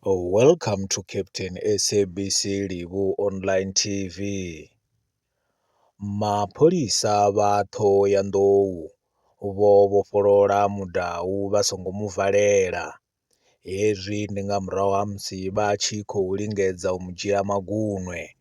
Welcome to Captain SABC Livhu online T_V, mapholisa vha Ṱhohoyanḓou vho vhofholola mudau vha songo mu valela, hezwi ndi nga murahu ha musi vha tshi khou lingedza u mu dzhia magunwe.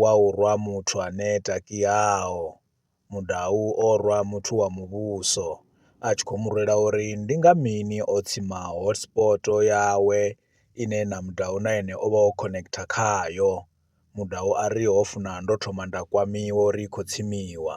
wa u rwa muthu a neta kiaho, mudau o rwa muthu wa muvhuso a tshi khou mu rwela uri ndi nga mini o tsima hotspot yawe ine na mudau na ene o vha o connecter khayo, mudau a ri ho funa ndo thoma nda kwamiwa uri i khou tsimiwa.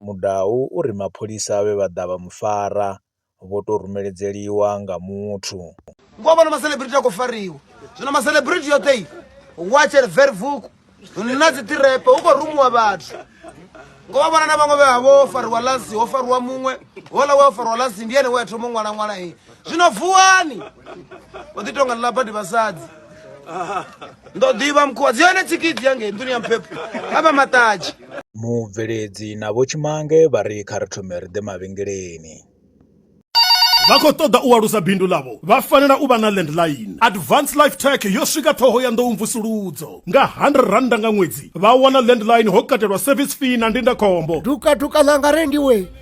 mudau uri mapholisa vhe vha ḓa vha mu fara vho tou rumeledzeliwa nga muthu. Ngoho vhona maselebrithi a khou fariwa zwino maselebrithi yoṱhe i watcher vervuk na dzi ṱirepe hu khou rumiwa vhathu ngo vha vhona na vhaṅwe vhe vha vho fariwa lasi ho fariwa muṅwe hola we a fariwa lasi ndi ene we a thoma u ṅwala ṅwala zwino vuwani o ḓi tonga ḽa badi vhasadzi ndo ḓivha mukhuwa dzi hone tsikidzi ya ngei nḓuni ya mphepho a vha maṱatshi mubveledzi na vho tshimange vha ri kha ri thome ri ḓe mavhengeleni vha khou ṱoḓa u alusa bindu ḽavho vha fanela u vha na landline advance life tech yo swika ṱhoho ya nḓou mvusuludzo nga 100 rannda nga ṅwedzi vha wana landline ho katelwa service fee na ndindakhombo dukaduka ḽanga rengiwe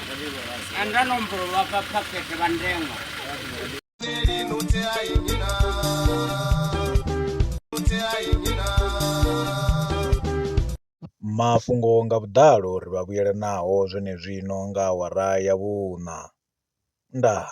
Anda nomboro lwa pa phakhethe vha ndengwa. Mafhungo nga vhuḓalo ri vha vhuyela naho zwenezwino nga awara ya vhuṋa. Ndaa.